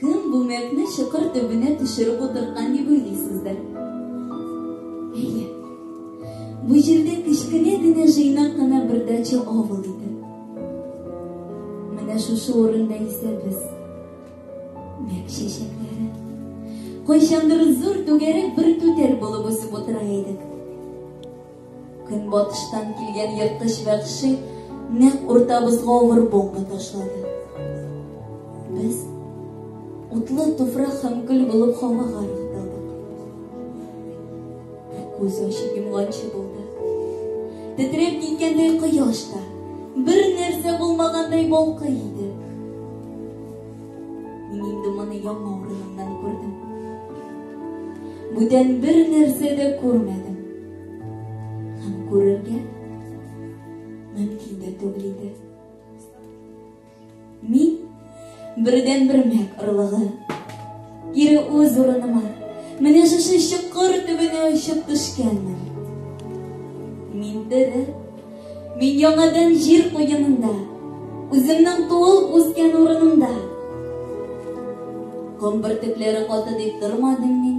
Кем бу мәкне чокыр төбенә төшереп утырткан дип уйлыйсыздыр? Әйе. Бу җирдә кечкенә генә җыйнак кына бер дача авыл иде. Менә шушы урында исә без мәк чәчәкләре. Кайчандыр зур түгәрәк бер түтәл булып үсеп утыра идек. Көнбатыштан килгән ерткыч вәхши нәкъ уртабызга авыр бомба ташлады. Без утлы туфрак һәм көл булып һавага ыргытылдык. Күз ачып йомганчы булды. Тетрәп киткәндәй кояш та, бер нәрсә булмагандай балкый иде. Мин инде моны яңа урынымнан күрдем. Бүтән бер нәрсә дә күрмәдем. Һәм күрергә мөмкин дә түгел иде. Мин бердән бер мәк орлыгы. Кире үз урыныма, менә шушы чокыр төбенә очып төшкәнмен. Мин тере, мин яңадан җир куенында, үземнең туылып үскән урынымда. Ком бөртекләре каты дип тормадым мин.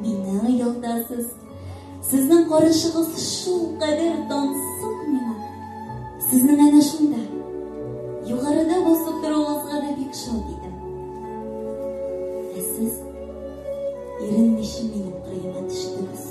Мине оялтасыз. Сезнең карышыгыз шул кадәр тансык миңа. Сезнең әнә шунда. Югарыда басып торуыгызга да бик шат идем. Ә сез иренмичә минем кырыема төштегез.